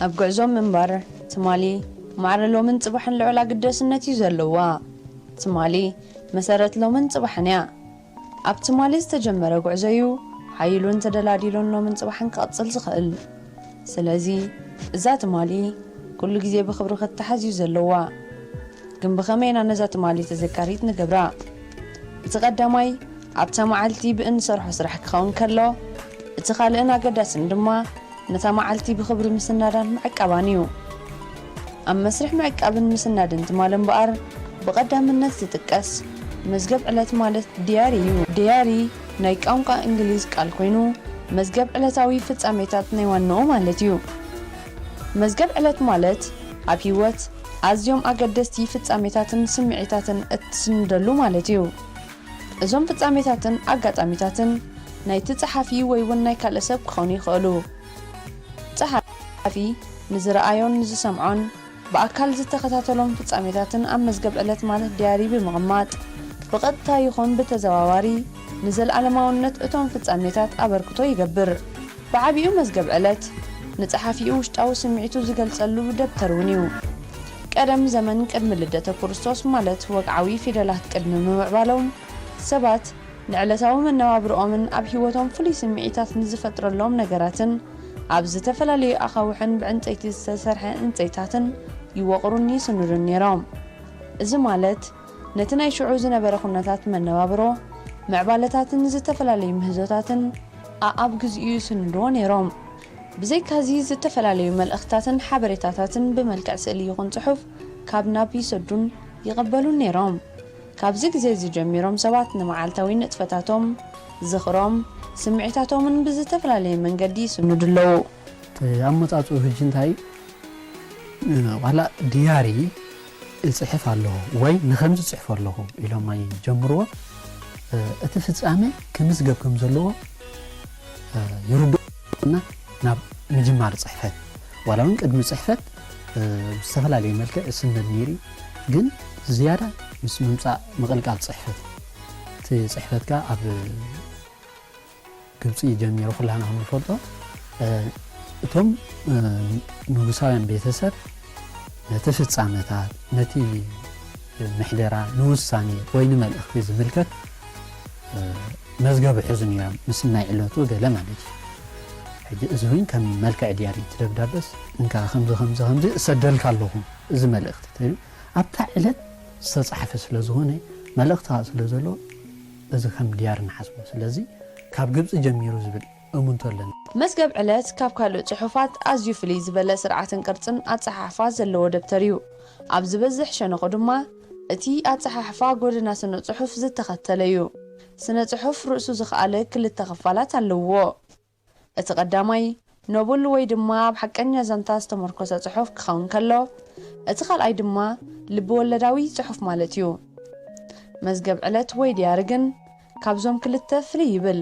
ኣብ ጉዕዞ ምንባር ትማሊ ማዕረ ሎምን ጽባሕን ልዑል ኣግደስነት እዩ ዘለዋ። ትማሊ መሰረት ሎምን ጽባሕን እያ። ኣብ ትማሊ ዝተጀመረ ጉዕዞ እዩ ሓይሉን ተደላዲሉን ሎምን ጽባሕን ክቕጽል ዝኽእል። ስለዚ እዛ ትማሊ ኩሉ ግዜ ብኽብሪ ክትተሓዝ እዩ ዘለዋ። ግን ብኸመይ ኢና ነዛ ትማሊ ተዘካሪት ንገብራ? እቲ ቀዳማይ ኣብታ መዓልቲ ብእንሰርሖ ስራሕ ክኸውን ከሎ እቲ ካልእን ኣገዳስን ድማ፣ ነታ መዓልቲ ብኽብሪ ምስናዳን ምዕቃባን እዩ። ኣብ መስርሕ ምዕቃብን ምስናድን ትማል እምበኣር ብቐዳምነት ዝጥቀስ መዝገብ ዕለት ማለት ዲያሪ እዩ። ዲያሪ ናይ ቋንቋ እንግሊዝ ቃል ኮይኑ መዝገብ ዕለታዊ ፍጻሜታት ናይ ዋንኡ ማለት እዩ። መዝገብ ዕለት ማለት ኣብ ህይወት ኣዝዮም ኣገደስቲ ፍጻሜታትን ስምዒታትን እትስንደሉ ማለት እዩ። እዞም ፍጻሜታትን ኣጋጣሚታትን ናይቲ ጸሓፊ ወይውን ናይ ካልእ ሰብ ክኾኑ ይኸእሉ። ጸሓፊ ንዝረኣዮን ንዝሰምዖን ብኣካል ዝተኸታተሎም ፍጻሜታትን ኣብ መዝገብ ዕለት ማለት ዲያሪ ብምቕማጥ ብቐጥታ ይኹን ብተዘዋዋሪ ንዘልኣለማውነት እቶም ፍጻሜታት ኣበርክቶ ይገብር። ብዓቢኡ መዝገብ ዕለት፣ ንጸሓፊኡ ውሽጣዊ ስምዒቱ ዝገልጸሉ ደብተር እውን እዩ። ቀደም ዘመን ቅድሚ ልደተ ክርስቶስ ማለት ወግዓዊ ፊደላት ቅድሚ ምምዕባሎም፣ ሰባት ንዕለታዊ መነባብርኦምን ኣብ ህይወቶም ፍሉይ ስምዒታት ንዝፈጥረሎም ነገራትን ኣብ ዝተፈላለዩ ኣኻውሕን ብዕንጸይቲ ዝተሰርሐ ዕንጸይታትን ይወቕሩን ይስንዱን ነይሮም። እዚ ማለት፣ ነቲ ናይ ሽዑ ዝነበረ ኩነታት መነባብሮ፣ ምዕባለታትን ዝተፈላለዩ ምህዞታትን ኣኣብ ግዚኡ ይስንድዎ ነይሮም። ብዘይካዚ ዝተፈላለዩ መልእኽትታትን ሓበሬታታትን ብመልክዕ ስእሊ ይኹን ጽሑፍ ካብ ናብ ይሰዱን ይቕበሉን ነይሮም። ካብዚ ግዜ እዚ ጀሚሮም ሰባት ንመዓልታዊ ንጥፈታቶም፣ ዝኽሮም፣ ስምዒታቶምን ብዝተፈላለየ መንገዲ ይስንዱ ኣለዉ። ኣመጻጽኡ ህጂ እንታይ እዩ? ዋላ ድያሪ እጽሕፍ ኣለኹ ወይ ንኸምዚ እጽሕፎ ኣለኹ ኢሎም ኣይጀምርዎ፣ እቲ ፍጻመ ክምዝገብ ከም ዘለዎ ይርድኡና ናብ ምጅማር ጽሕፈት ዋላ እውን ቅድሚ ጽሕፈት ብዝተፈላለየ መልክዕ እስነድ ነይሩ እዩ፣ ግን ዝያዳ ምስ ምምጻእ ምቕልቃል ጽሕፈት እዩ። እቲ ጽሕፈትካ ኣብ። ግብጺ ጀሚሩ ኩላህና ከምንፈልጦ እቶም ንጉሳውያን ቤተሰብ ነቲ ፍጻመታት ነቲ ምሕደራ ንውሳኔ ወይ ንመልእኽቲ ዝምልከት መዝገብ ይሕዙ ነይሮም ምስናይ ዕለቱ ገለ ማለት እዩ ሕጂ እዚ እውን ከም መልክዕ ድያሪ እቲ ደብዳበስ እንካ ከምዚ ከምዚ ከምዚ እሰደልካ ኣለኹ እዚ መልእኽቲ ተይሉ ኣብታ ዕለት ዝተፃሕፈ ስለ ዝኾነ መልእኽቲ ስለ ዘሎ እዚ ከም ድያር ንሓስቦ ስለዚ ካብ ግብጺ ጀሚሩ ዝብል እሙንቶ ኣለኒ። መዝገብ ዕለት ካብ ካልእ ጽሑፋት ኣዝዩ ፍልይ ዝበለ ስርዓትን ቅርጽን ኣጸሓሕፋ ዘለዎ ደብተር እዩ። ኣብ ዝበዝሕ ሸነኹ ድማ እቲ ኣጸሓሕፋ ጎደና ስነ-ጽሑፍ ዝተኸተለ እዩ። ስነ-ጽሑፍ ርእሱ ዝኸኣለ ክልተ ክፋላት ኣለዉዎ። እቲ ቀዳማይ ኖብል ወይ ድማ ኣብ ሓቀኛ ዛንታ ዝተሞርኮሰ ጽሑፍ ክኸውን ከሎ፣ እቲ ካልኣይ ድማ ልቢ-ወለዳዊ ጽሑፍ ማለት እዩ። መዝገብ ዕለት ወይ ድያሪ ግን ካብዞም ክልተ ፍልይ ይብል።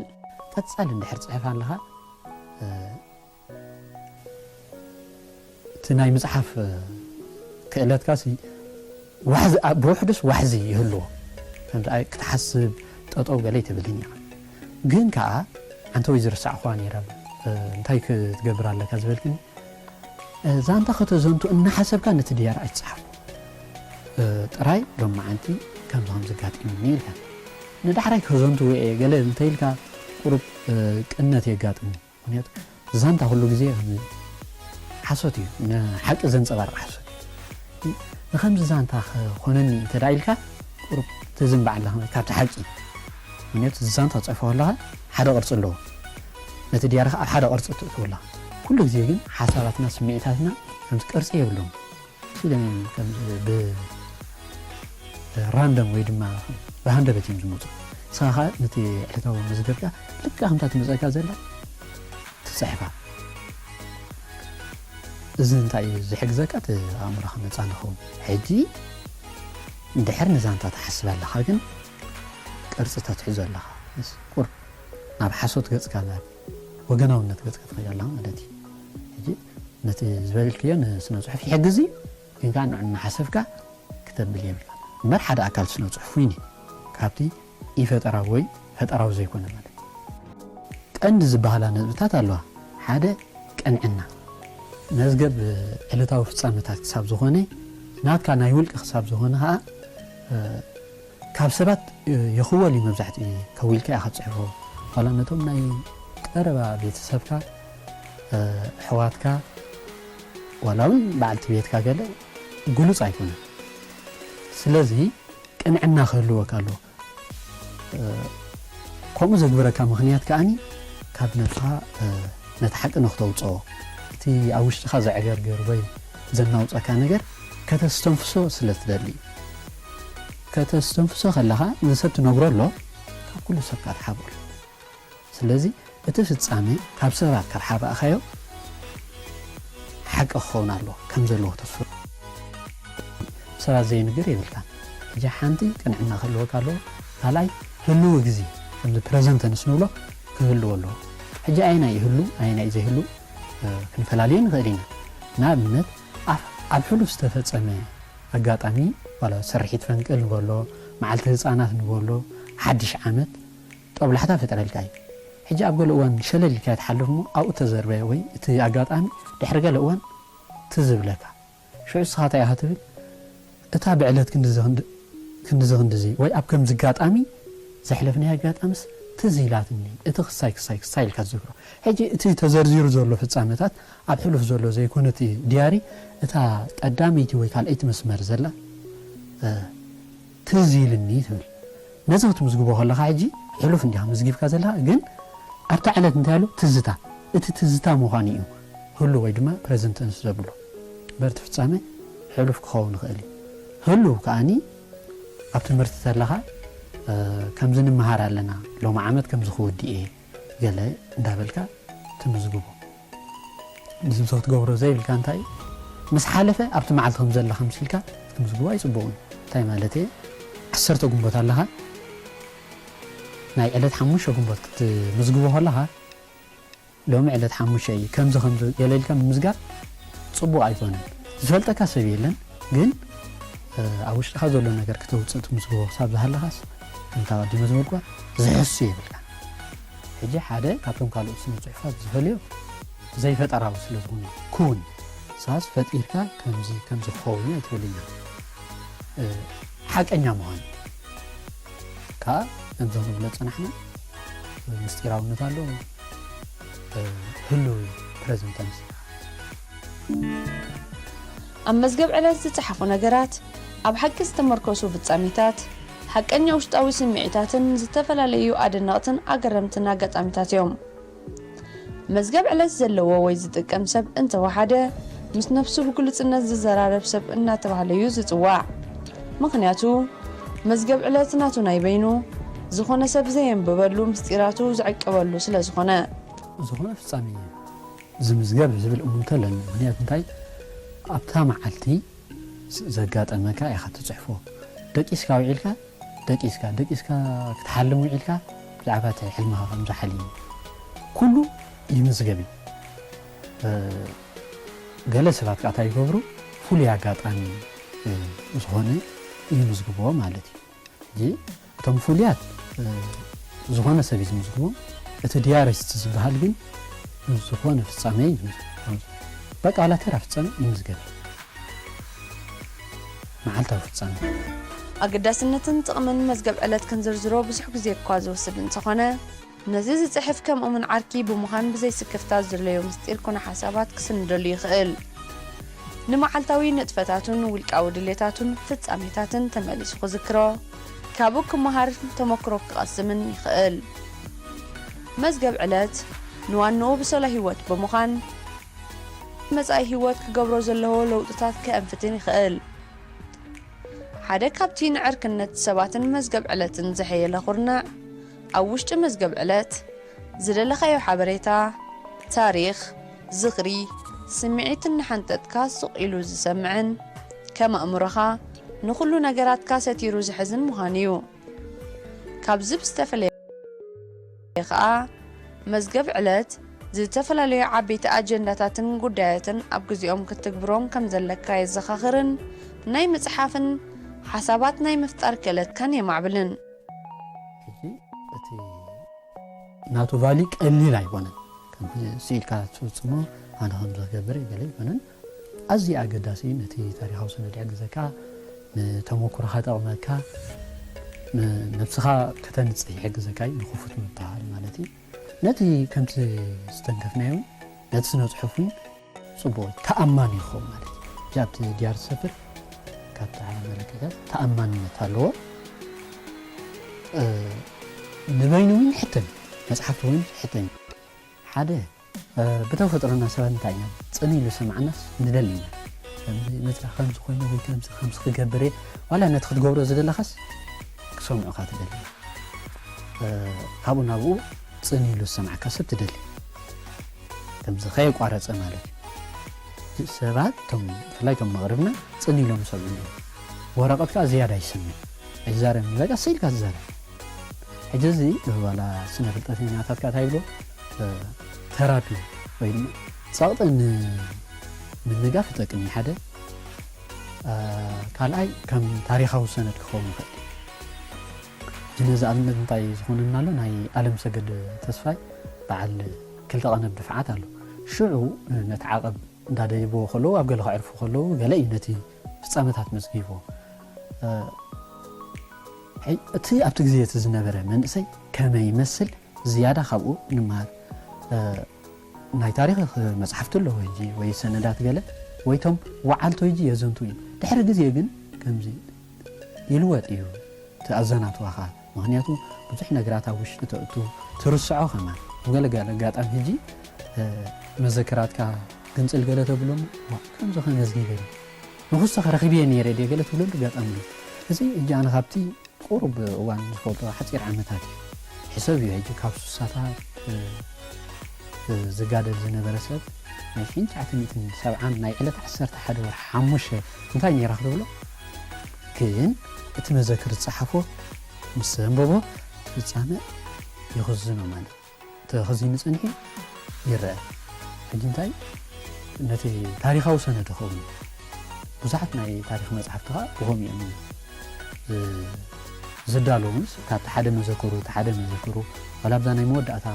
ቀጻሊ እንድሕር ትጽሕፍ ኣለኻ፣ እቲ ናይ ምጽሓፍ ክእለትካሲ ዋሕዚ ብውሕዱስ ዋሕዚ ይህልዎ ከምዚ ክትሓስብ ጠጠው ገለ ኣይትብልን ኢኻ ግን ከኣ ኣንተወይ ዝርሳዕኩዋ ኔራ እንታይ ክትገብር ኣለካ ዝበልክኒ ዛንታ ከተዘንቱ እናሓሰብካ ነቲ ድያር ኣይትጽሓፎ ጥራይ ሎማዓንቲ ከምዚ ከምዚ ኣጋጢሙኒ ኢልካ ንዳሕራይ ከዘንትዎ እየ ገለ እንተኢልካ ቁሩብ ቅነት የጋጥም እዩ ምክንያቱ ዛንታ ኩሉ ግዜ ሓሶት እዩ ንሓቂ ዘንጸባርቅ ሓሶት እዩ ንከምዚ ዛንታ ክኮነኒ እንተ ኢልካ ቁሩብ ትዝንባዕ ኣለካ ካብቲ ሓቂ ምክንያቱ ዛንታ ትጽሕፎ ከለካ ሓደ ቅርጺ ኣለዎ ነቲ ድያርካ ኣብ ሓደ ቅርጺ ተእትዎ ኣለካ ኩሉ ግዜ ግን ሓሳባትና ስምዒታትና ከምዚ ቅርጺ የብሎምን ፊልም ከምዚ ብ ራንደም ወይ ድማ ብሃንደበት እዮም ዝመፁ ንስኻ ከዓ ነቲ ዕለታዊ መዝገብካ ልክዕ ከምታ ትመፀካ ዘላ ትፅሕፋ እዚ እንታይ እዩ ዝሕግዘካ እቲ ኣእምሮኻ ነፃ ንኸውን ሕጂ እንድሕር ንዛንታ ትሓስብ ኣለኻ ግን ቅርፂ ተትሕዞ ኣለኻ ቁር ናብ ሓሶት ገፅካ ናብ ወገናውነት ገጽካ ትኸይድ ኣለኻ ማለት እዩ። ሕጂ ነቲ ዝበልክዮ ንስነ ጽሑፍ ይሕግዝ እዩ ግን ከኣ ንዑ እናሓሰብካ ክተብል የብልካን እምበር ሓደ ኣካል ስነ ጽሑፍ ዊኒ ካብቲ ኢፈጠራዊ ወይ ፈጠራዊ ዘይኮነ ማለት ቀንዲ ዝበሃላ ነጥብታት ኣለዋ ሓደ ቅንዕና መዝገብ ዕለታዊ ፍጻመታት ክሳብ ዝኾነ ናትካ ናይ ውልቂ ክሳብ ዝኾነ ከኣ ካብ ሰባት ይኽወል እዩ መብዛሕትኡ ግዜ ከዊልካ ኢኻ ትጽሕፎ ዋላ ነቶም ናይ ቀረባ ቤተሰብካ ኣሕዋትካ ዋላ ውን በዓልቲ ቤትካ ገለ ግሉጽ ኣይኮነን ስለዚ ቅንዕና ክህልወካ ኣለዎ ከምኡ ዘግብረካ ምኽንያት ከኣ ካብ ነብስኻ ነቲ ሓቂ ንክተውጽኦ እቲ ኣብ ውሽጥኻ ዘዕገርግር ወይ ዘናውጸካ ነገር ከተስተንፍሶ ስለ ትደሊ እዩ ከተስተንፍሶ ከለኻ ንሰብ ትነግሮ ኣሎ ካብ ኩሉ ሰብ እካ ትሓብኦ ኣሎ ስለዚ እቲ ፍጻመ ካብ ሰባት ካብ ሓባእካዮ ሓቂ ክኸውን ኣለዎ ከም ዘለዎ ክትፍር ሰባት ዘይንገር የብልካን ሕጂ ሓንቲ ቅንዕና ክህልወካ ኣለዎ ካልኣይ ህልዊ ግዜ ከምዚ ፕረዘንት ተንስ ንብሎ ክህልዎ ኣለዎ ሕጂ ኣየናይ ህሉ ኣየናይ ዘይህሉ ክንፈላልዮ ንኽእል ኢና ንኣብነት ኣብ ሕሉፍ ዝተፈጸመ ኣጋጣሚ ዋላ ስርሒት ፈንቅል ንበሎ መዓልቲ ህጻናት ንበሎ ሓድሽ ዓመት ጦብላሕታ ይፈጥረልካ እዩ። ሕጂ ኣብ ገለ እዋን ሸለል ኢልካዮ ትሓልፍ እሞ ኣብኡ ተዘርበ ወይ እቲ ኣጋጣሚ ድሕሪ ገለ እዋን ትዝ ይብለካ ሽዑ እስኻ እንታይ ኢኻ ትብል እታ ብዕለት ክንድዚ ክንድዚ ክንድዚ ወይ ኣብ ከምዚ ኣጋጣሚ ዘሕለፍናያ ኣጋጣምስ ትዝ ኢላትኒ እቲ ክሳይ ክሳይ ክሳይ ኢልካ ትዝክሮ ሕጂ እቲ ተዘርዚሩ ዘሎ ፍጻመታት ኣብ ሕሉፍ ዘሎ ዘይኮነት ድያሪ እታ ቀዳመይቲ ወይ ካልኣይቲ መስመር ዘላ ትዝ ኢልኒ ትብል ነዚ ክትምዝግቦ ከለካ ሕጂ ሕሉፍ እንዲካ ምዝጊብካ ዘለካ ግን ኣብታ ዕለት እንታይ ኣሎ ትዝታ እቲ ትዝታ ምኳኑ እዩ ህሉው ወይ ድማ ፕረዘንት ተንስ ዘብሎ እምበር እቲ ፍጻመ ሕሉፍ ክኸውን ይኽእል እዩ ህሉው ከኣኒ ኣብ ትምህርቲ ተለካ ከምዚ ንመሃር ኣለና ሎሚ ዓመት ከምዚ ክውድእ እየ ገለ እንዳበልካ ትምዝግቦ ንዚ ምሰ ክትገብሮ ዘይብልካ እንታይ እዩ ምስ ሓለፈ ኣብቲ መዓልቲ ከም ዘለኻ ምሲልካ ክትምዝግቦ ኣይጽቡቕን እንታይ ማለት እየ ዓሰርተ ግንቦት ኣለኻ ናይ ዕለት ሓሙሽተ ግንቦት ክትምዝግቦ ከለኻ ሎሚ ዕለት ሓሙሽተ እዩ ከምዚ ከምዚ ገለ ኢልካ ምምዝጋብ ጽቡቕ ኣይኮነን ዝፈልጠካ ሰብ የለን ግን ኣብ ውሽጥኻ ዘሎ ነገር ክተውፅእ ትምዝግቦ ክሳብ ዝሃለኻስ እንተ ኣቐዲመ ዝበልኩዋ ዝሕሱ የብልካን። ሕጂ ሓደ ካብቶም ካልኦት ስነ ጽሑፋት ዝፈልዮ ዘይፈጠራዊ ስለ ዝኹነ ኩን ሳስ ፈጢርካ ከምዚ ከምዚ ክኸውን እያ ትብለኒ ሓቀኛ ምዃን ከኣ ከምዞም ንብሎ ጸናሕና ምስጢራውነት ኣለዎ ህሉው ፕረዘንተንስ ኣብ መዝገብ ዕለት ዝጸሓፉ ነገራት፣ ኣብ ሓቂ ዝተመርኮሱ ፍጻሜታት፣ ሓቀኛ ውሽጣዊ ስምዒታትን ዝተፈላለዩ ኣደነቕትን ኣገረምትን ኣጋጣሚታት እዮም። መዝገብ ዕለት ዘለዎ ወይ ዝጥቀም ሰብ እንተ ወሓደ፣ ምስ ነፍሱ ብግሉጽነት ዝዘራረብ ሰብ እናተባህለ እዩ ዝጽዋዕ። ምኽንያቱ፣ መዝገብ ዕለት ናቱ ናይ በይኑ፣ ዝኾነ ሰብ ዘየንብበሉ ምስጢራቱ ዝዕቅበሉ ስለ ዝኾነ። ዝኾነ ፍጻሜ፣ ዝምዝገብ ዝብል እሙንቶ ኣለኒ ምክንያቱ እንታይ ኣብታ መዓልቲ ዘጋጠመካ ኢካ ትጽሕፎ ደቂስካ ዊዒልካ ደቂስካ ደቂስካ ክትሓልም ዊዒልካ ብዛዕባ እቲ ሕልምካ ከም ዝሓልም ኩሉ ይምዝገብ እዩ ገለ ሰባት ከኣ እንታይ ይገብሩ ፍሉይ ኣጋጣሚ ዝኮነ ይምዝግብዎ ማለት እዩ። ሕጂ እቶም ፍሉያት ዝኾነ ሰብ እዩ ዝምዝግቦም እቲ ዲያሪስት ዝበሃል ግን ምስ ዝኾነ ፍጻሜ እዩ ዝምዝገብ በቃ ዋላ ተራ ፍጻሜ ይምዝገብ መዓልታዊ ፍጻሜ ኣገዳስነትን ጥቕምን መዝገብ ዕለት ክንዝርዝሮ ብዙሕ ግዜ እኳ ዝወስድ እንተኾነ፣ ነዚ ዝጽሕፍ ከምኡምን ዓርኪ ብምዃን ብዘይ ስክፍታ ዝድለዮ ምስጢር ኮነ ሓሳባት ክስንደሉ ይኽእል። ንመዓልታዊ ንጥፈታቱን ውልቃዊ ድሌታቱን ፍጻሜታትን ተመሊሱ ክዝክሮ፣ ካብኡ ክመሃርን ተመክሮ ክቐስምን ይኽእል። መዝገብ ዕለት ንዋንኡ ብሰሎ ህይወት ብምዃን ኣብ መጻኢ ህይወት ክገብሮ ዘለዎ ለውጥታት ከእንፍትን ይኽእል። ሓደ ካብቲ ንዕርክነት ሰባትን መዝገብ ዕለትን ዘሐየለ ኩርናዕ፣ ኣብ ውሽጢ መዝገብ ዕለት፣ ዝደለኻዮ ሓበሬታ፣ ታሪኽ፣ ዝኽሪ፣ ስምዒት እናሓንጠጥካ ስቕ ኢሉ ዝሰምዕን ከም ኣእምሮኻ ንኹሉ ነገራትካ ሰቲሩ ዝሕዝን ምዃን እዩ። ካብዚ ብዝተፈለየ ከኣ፣ መዝገብ ዕለት ዝተፈላለዩ ዓበይቲ ኣጀንዳታትን ጉዳያትን ኣብ ግዜኦም ክትትግብሮም ከም ዘለካ የዘኻኽርን ናይ ምጽሓፍን ሓሳባት ናይ ምፍጣር ክእለትካን የማዕብልን። ሕጂ እቲ ናቱ ቫሊ ቀሊል ኣይኮነን ከምዚ ስኢልካ ትፍጽሞ ኣነ ከምዚ ክገብር እየ ገለ ኣይኮነን ኣዝዩ ኣገዳሲ ነቲ ታሪኻዊ ሰነድ ይሕግዘካ ንተመኩሮኻ ጠቕመካ ንነብስኻ ከተንጽህ ይሕግዘካ እዩ ንክፉት ምብሃል ማለት እዩ ነቲ ከምቲ ዝተንከፍናዮ ነቲ ስነ ጽሑፍን ጽቡቕ እዩ ተኣማኒ ይኸውን ማለት እዩ እዚ ኣብቲ ድያር ዝሰፍር ካብቲ ሓበሬታታት ተኣማንነት ኣለዎ ንበይኑ እውን ይሕተም መጽሓፍቲ እውን ይሕተም ሓደ ብተፈጥሮና ሰባት እንታይ ኢና ጽን ኢሉ ሰማዕናስ ንደሊ ኢና ከምዚ ነዛ ከምዚ ኮይኑ ወይ ከምዚ ከምዚ ክገብር እየ ዋላ ነቲ ክትገብሮ ዝደለኻስ ክሰምዑኻ ትደሊ ካብኡ ናብኡ ጽን ኢሉ ዝሰማዕካ ሰብ ትደሊ ከምዚ ከየቋረፀ ማለት እዩ ሰባት ቶም ብፍላይ ቶም መቕርብና ፅን ኢሎም ይሰምዑ እዮም ወረቐት ከዓ ዝያዳ ይሰምዕ ኣይዛረብን በቃ ስቅ ኢልካ ትዛረብ ሕጂ እዚ ዋላ ስነ ፍልጠተኛታት ከዓ እንታይ ይብሉ ተራፒ ወይ ድማ ፀቕጢ ንምንጋፍ ይጠቅም እዩ ሓደ ካልኣይ ከም ታሪካዊ ሰነድ ክኸውን ይኽእል እዩ ነዚ ኣብነት እንታይ ዝኾነና ኣሎ ናይ ኣለም ሰገድ ተስፋይ በዓል ክልተ ቀንብ ድፍዓት ኣሎ ሽዑ ነቲ ዓቐብ እንዳደይብዎ ከለዉ ኣብ ገለ ከዕርፉ ከለዉ ገለ እዩ ነቲ ፍጻመታት መዝጊብዎ እቲ ኣብቲ ግዜ እቲ ዝነበረ መንእሰይ ከመይ ይመስል ዝያዳ ካብኡ ንመሃር ናይ ታሪክ መጽሓፍቲ ኣሎ ወይ ወይ ሰነዳት ገለ ወይቶም ወዓልቶ ይጂ የዘንቱ እዩ ድሕሪ ግዜ ግን ከምዚ ይልወጥ እዩ እቲ ኣዘናትዋኻ ምክንያቱ ብዙሕ ነግራት ኣብ ውሽጢ ተእቱ ትርስዖ ከማን ብገለ ኣጋጣሚ ህጂ መዘክራትካ ግንጽል ገለ ተብሎ እሞ ዋእ ከምዚ ከመዚ ኔረ ንኩስቶከ ረኪብዬ ኔረ ድየ ገለ ትብለሉ ኣጋጣሚ ኣሎ እዚ ህጂ ኣነ ካብቲ ቁሩብ እዋን ዝፈልጦ ሓጺር ዓመታት እዩ ሕሰብዮ ህጂ ካብ ሱሳታት ዝጋደል ዝነበረ ሰብ ናይ ሽንቻዕተ ሚእትን ሰብዓን ናይ ዕለት ዓሰርተ ሓደ ወርሒ ሓሙሽተ እንታይ ኔራ ክትብሎ ግን እቲ መዘክር ዝጸሓፎ ምስ ዘንበቦ ፍጻመ ይኽዝኖ ማለት ተኸዚኑ ጸኒሑ ይረኣ። ሕጂ እንታይ ነቲ ታሪኻዊ ሰነድ ይኸውን እዩ። ብዙሓት ናይ ታሪኽ መጽሓፍቲ ከኣ ብኸምኡ እዮም ዝዳለዉንስ ካብቲ ሓደ መዘክሩ እቲ ሓደ መዘክሩ ዋላ ኣብዛ ናይ መወዳእታ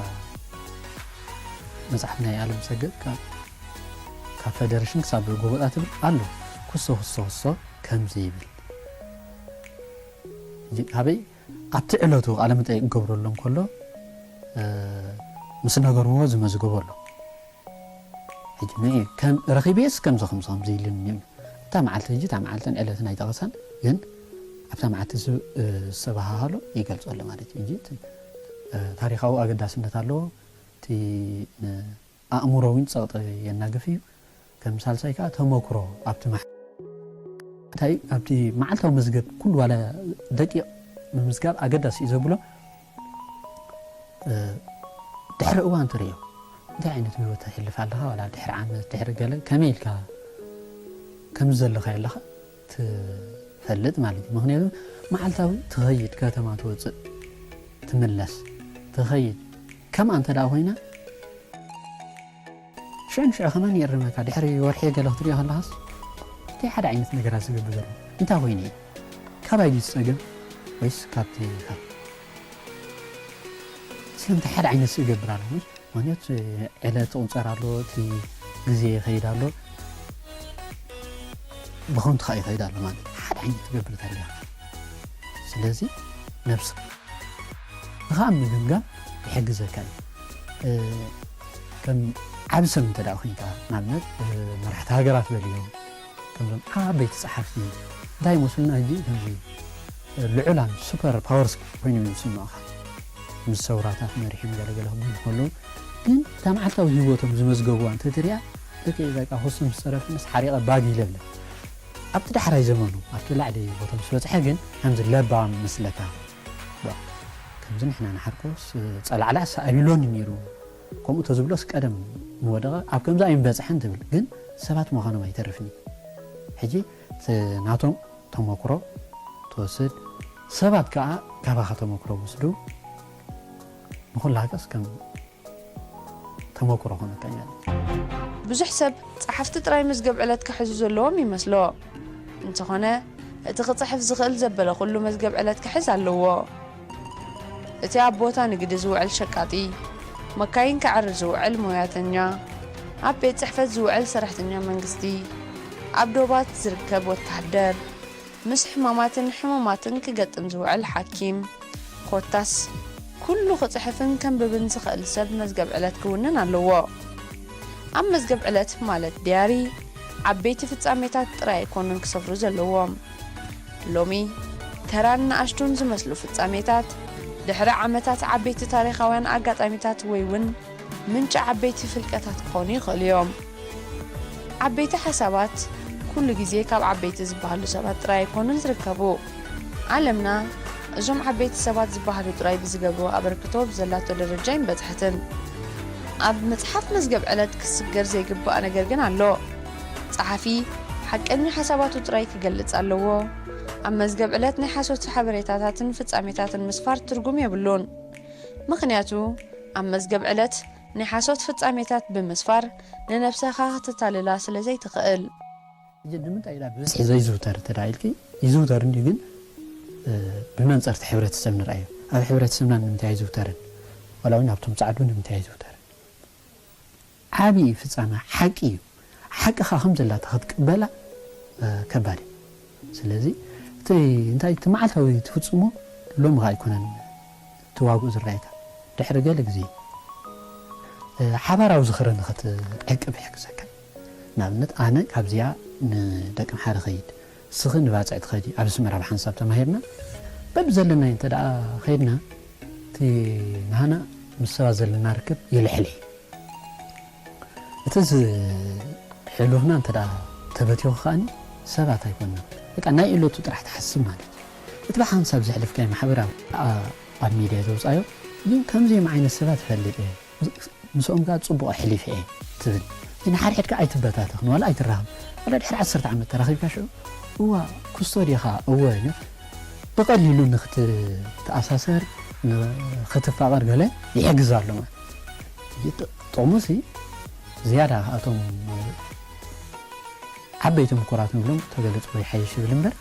መጽሓፍ ናይ ኣለምሰገድ ካብ ፈደረሽን ክሳብ ጎበጣ ትብል ኣሎ ኩሶ ኩሶ ኩሶ ከምዚ ይብል፣ ኣበይ ኣብቲ ዕለቱ ቃለ መጠይቅ ክገብረሉ እንከሎ ምስ ነገርዎ ዝመዝገቦ ኣሎ ሕጂ ንኢ ከም ረኺቤስ ከምዚ ከምዚ ከምዚ ኢሉኒ እዩ እታ መዓልቲ ሕጂ እታ መዓልትን ዕለትን ኣይጠቐሰን ግን ኣብታ መዓልቲ ዝተባሃሃሎ ይገልጾ ኣሎ ማለት እዩ እንጂ ታሪኻዊ ኣገዳስነት ኣለዎ እቲ ኣእምሮኣዊን ጸቕጢ የናግፍ እዩ። ከም ሳልሳይ ከኣ ተመክሮ ኣብቲ መዓልታዊ ኣብቲ መዓልታዊ መዝገብ ኩሉ ዋላ ደቂቕ ምምዝጋብ ኣገዳሲ እዩ ዘብሎ ድሕሪ እዋን ትርእዮ እንታይ ዓይነት ህይወት ተሕልፍ ኣለኻ ዋላ ድሕሪ ዓመት ድሕሪ ገለ ከመይ ኢልካ ከምዚ ዘለኻዮ ኣለኻ ትፈልጥ ማለት እዩ ምክንያቱ መዓልታዊ ትኸይድ ከተማ ትወፅእ ትምለስ ትኸይድ ከምኣ እንተ ኮይና ሽዑ ንሽዑ ከማን ይእርመካ ድሕሪ ወርሒ ገለ ክትሪኦ ከለኻስ እንታይ ሓደ ዓይነት ነገራት ዝገብር ዘሎ እንታይ ኮይኑ እዩ ካባይ ድዩ ዝፀገም ወይስ ካብቲ ስለምንታይ ሓደ ዓይነት ስእ ይገብር ኣሎ ምስ ምክንያቱ ዕለት ቁንፀር ኣሎ እቲ ግዜ ይኸይድ ኣሎ ብኸንቱ ከዓ ይኸይድ ኣሎ ማለት ሓደ ዓይነት ትገብር ታሪያ ስለዚ ነብስ ንካብ ምግምጋም ይሕግዘካ እዩ ከም ዓብ ሰብ እንተ ኮይንካ ንኣብነት መራሕቲ ሃገራት በልዮም ከምዞም ዓበይቲ ጸሓፍቲ እንታይ ይመስሉና ሕጂ ከምዚ ልዑላን ሱፐር ፓወርስ ኮይኖም እዮም ዝስምዑኻ ምስ ሰውራታት መሪሖም ገለ ገለ ክብሉ እንከለዉ ግን እታ መዓልታዊ ህይወቶም ዝመዝገቡዋ እንተትሪኣ ደቂ በቃ ክሱም ዝጸረፍንስ ሓሪቐ ባግ ኢለ እብለ ኣብቲ ዳሕራይ ዘመኑ ኣብቲ ላዕሊ ቦታ ምስ በጽሐ ግን ከምዚ ለባም ይመስለካ ከምዚ ንሕና ንሓርኮስ ጸላዕላዕ ሳኣቢሎኒ ነይሩ ከምኡ ተዝብሎስ ቀደም ምወደቐ ኣብ ከምዚ ኣይምበጽሐን ትብል ግን ሰባት ምዃኖም ኣይተርፍን እዩ ሕጂ ናቶም ተሞክሮ ትወስድ ሰባት ከኣ ካባኻ ተሞክሮ ውስዱ ንኹላህከስ ከም ተሞክሮ ኮነካ እያ። ብዙሕ ሰብ ጸሓፍቲ ጥራይ መዝገብ ዕለት ክሕዙ ዘለዎም ይመስሎ እንተኾነ እቲ ክጽሕፍ ዝኽእል ዘበለ ኩሉ መዝገብ ዕለት ክሕዝ ኣለዎ። እቲ ኣብ ቦታ ንግዲ ዝውዕል ሸቃጢ፣ መካይን ከዐሪ ዝውዕል ሞያተኛ፣ ኣብ ቤት ጽሕፈት ዝውዕል ሰራሕተኛ መንግስቲ፣ ኣብ ዶባት ዝርከብ ወተሃደር፣ ምስ ሕማማትን ሕሙማትን ክገጥም ዝውዕል ሓኪም፣ ኮታስ ኩሉ ክጽሕፍን ከንብብን ዝኽእል ሰብ መዝገብ ዕለት ክውንን ኣለዎ። ኣብ መዝገብ ዕለት ማለት ድያሪ፣ ዓበይቲ ፍጻሜታት ጥራይ ኣይኮኑን ክሰፍሩ ዘለዎም። ሎሚ ተራን ንኣሽቱን ዝመስሉ ፍጻሜታት፣ ድሕሪ ዓመታት ዓበይቲ ታሪኻውያን ኣጋጣሚታት ወይ'ውን ምንጪ ዓበይቲ ፍልቀታት ክኾኑ ይኽእሉ እዮም። ዓበይቲ ሓሳባት ኩሉ ግዜ ካብ ዓበይቲ ዝበሃሉ ሰባት ጥራይ ኣይኮኑን ዝርከቡ። ዓለምና እዞም ዓበይቲ ሰባት ዝበሃሉ ጥራይ ብዝገብርዎ ኣበርክቶ ኣብ ዘላቶ ደረጃ ኣይምበጽሐትን። ኣብ መጽሓፍ መዝገብ ዕለት ክስገር ዘይግባእ ነገር ግን ኣሎ። ጸሓፊ፣ ሓቀኛ ሓሳባቱ ጥራይ ኪገልጽ ኣለዎ። ኣብ መዝገብ ዕለት ናይ ሓሶት ሓበሬታታትን ፍጻሜታትን ምስፋር ትርጉም የብሉን። ምኽንያቱ፣ ኣብ መዝገብ ዕለት ናይ ሓሶት ፍጻሜታት ብምስፋር ንነብሰኻ ከተታልላ ስለ ዘይትኽእል። ሕጂ ንምንታይ ኢላ ብብዝሒ ዘይዝውተር እንተ ኢልኪ፣ ይዝውተር እንድዩ ግን ብመንጸር'ቲ ሕብረተሰብ ንርኣዮ። ኣብ ሕብረተሰብና ንምንታይ ኣይዝውተርን? ዋላ'ውን ኣብቶም ጸዓዱ ንምንታይ ኣይዝውተርን? ዓቢ ፍጻመ ሓቂ እዩ ሓቅኻ ከም ዘላታ ክትቅበላ ከባድ እዩ ስለዚ እቲ እንታይ እቲ መዓልታዊ ትፍጽሞ ሎሚ ከኣ ኣይኮነን እቲ ዋግኡ ዝረኣየካ ድሕሪ ገለ ግዜ እዩ ሓባራዊ ዝኽሪ ንኽትዕቅብ ይሕግዘካ ንኣብነት ኣነ ካብዚኣ ንደቀምሓረ እኸይድ ስኺ ንባጽዕ ትኸዲ ኣብ ኣስመራ ብሓንሳብ ተማሂርና በብዘለናዮ እንተ ከይድና እቲ ናህና ምስ ሰባት ዘለና ርክብ ይልሕል እዩ እቲ ዝሕሉፍና እንተ ተበቲኹ ከኣኒ ሰባት ኣይኮናን በቃ ናይ እለቱ ጥራሕ ትሓስብ ማለት እዩ እቲ ብሓንሳብ ዘሕልፍካዮ ማሕበራዊ ኣብ ሚድያ ዘውጻዮ ግን ከምዚኦም ዓይነት ሰባት እፈልጥ እየ ምስኦም ከኣ ጽቡቕ ኣሕሊፈ እየ ትብል። እቲ ንሓድሕድካ ኣይትበታተኽን ዋላ ኣይትራኸብ ዋላ ድሕሪ ዓሰርተ ዓመት ተራኺብካ ሽዑ እዋእ ክስቶ ዲኻ እወ ኢልካ ብቐሊሉ ንኽትተኣሳሰር ንኽትፋቐር ገለ ይሕግዝ ኣሎ ማለት ጥቕሙሲ ዝያዳ እቶም ዓበይቲ ምኩራት ንብሎም ተገለጽዎ ይሓይሽ ይብል እምበር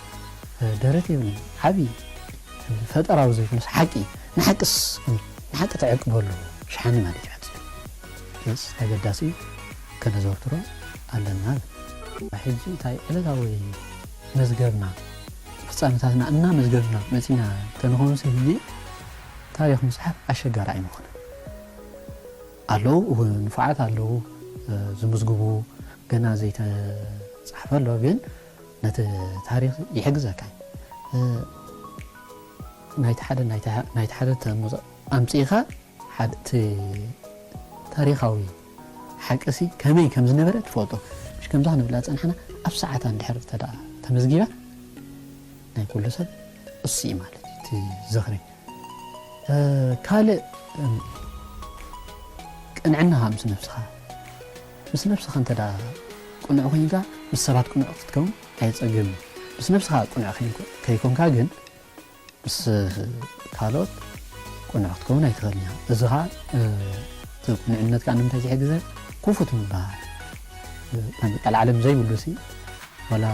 ደረት የብሉን ዓቢ ፈጠራዊ ዘይኮነስ ሓቂ ንሓቅስ ንሓቂ ተዕቅበሉ ሸሓኒ ማለት እዩ ሓቂ ገጽ ኣገዳሲ እዩ ከነዘውትሮ ኣለና እብል ሕጂ እንታይ ዕለታዊ መዝገብና ፍጻመታትና እናመዝገብና መጺና እንተንኾንሲ ህጂ ታሪኽ ምጽሓፍ ኣሸጋሪ ኣይምኾነን። ኣለዉ ንፉዓት ኣለዉ ዝምዝግቡ ገና ዘይተጻሕፈ ኣሎ ግን ነቲ ታሪኽ ይሕግዘካ እዩ ናይቲ ሓደ ናይቲ ሓደ ኣምጺእኻ እቲ ታሪኻዊ ሓቂሲ ከመይ ከም ዝነበረ ትፈልጦ ምሽ ከምዛ ክንብላ ዝጸናሕና ኣብ ሰዓታ እንድሕር እንተ ተመዝጊባ ናይ ኩሉ ሰብ እሱ እዩ ማለት እዩ እቲ ዝኽሪ ካልእ ቅንዕናኻ ምስ ነብስኻ ምስ ነብስኻ እንተ ቅኑዕ ኮይንካ ምስ ሰባት ቅኑዕ ክትከውን ኣየፀግም እዩ ምስ ነብስኻ ቅኑዕ ከይኮንካ ግን ምስ ካልኦት ቅኑዕ ክትከውን ኣይትኽእልን እያ እዚ ከዓ እቲ ቅኑዕነት ከዓ ንምንታይ ዝሕግዘ ክፉት ምባል ናይ ምቃል ዓለም ዘይብሉ ሲ ዋላ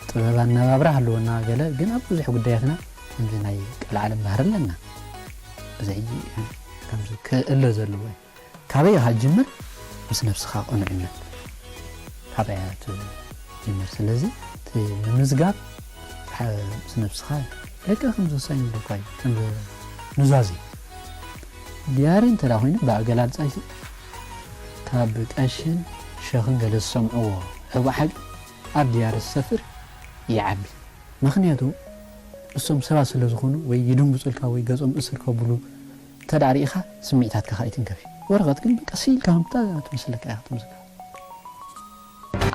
ጥበብ ኣነባብራ ሃለወና ገለ ግን ኣብ ብዙሕ ጉዳያትና ከምዚ ናይ ቀልዓለም ባህሪ ኣለና እዚ ከምዚ ክእለ ዘለዎ ካበይ ኢኻ ጅምር ምስ ነብስኻ ቅኑዕነት ካበይ እያ ትጅምር ስለዚ እቲ ምምዝጋብ ምስ ነብስኻ ደቂ ከም ዝወሳኝ ይብለካ እዩ ከም ኑዛዜ ዲያሪ እንተ ኮይኑ ብኣገላልፃ ካብ ቀሽን ሸኽን ገለ ዝሰምዕዎ ሕቡእ ሓቂ ኣብ ድያሪ ዝሰፍር ይዓቢ መኽንያቱ እሶም ሰባት ስለ ዝኾኑ ወይ ይድንጉጹልካ ወይ ገጾም እስር ከቡሉ እንተ ሪኢኻ ስሚዕታትካ ከኣ ይትንከፍ እዩ ወረቐት ግን በቃ ሲኢልካ ከምታ ትመስለካ ኢኻ ትምዝገብ።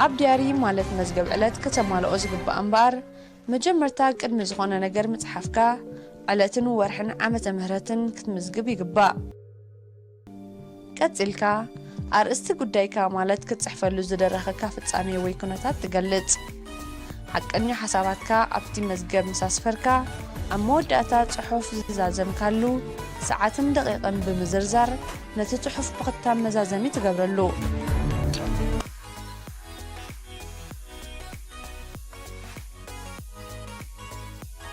ኣብ ድያሪ ማለት መዝገብ ዕለት ከተማልኦ ዝግባኣ እምበኣር መጀመርታ ቅድሚ ዝኾነ ነገር ምጽሓፍካ ዕለትን ወርሕን ዓመተ ምህረትን ክትምዝግብ ይግባእ። ቀጺልካ፣ ኣርእስቲ ጉዳይካ ማለት ክትጽሕፈሉ ዝደረኸካ ፍጻሜ ወይ ኩነታት ትገልጽ። ሓቀኛ ሓሳባትካ ኣብቲ መዝገብ ምስ ኣስፈርካ፣ ኣብ መወዳእታ ጽሑፍ ዝዛዘምካሉ ሰዓትን ደቒቕን ብምዝርዛር ነቲ ጽሑፍ ብኽታም መዛዘሚ ትገብረሉ።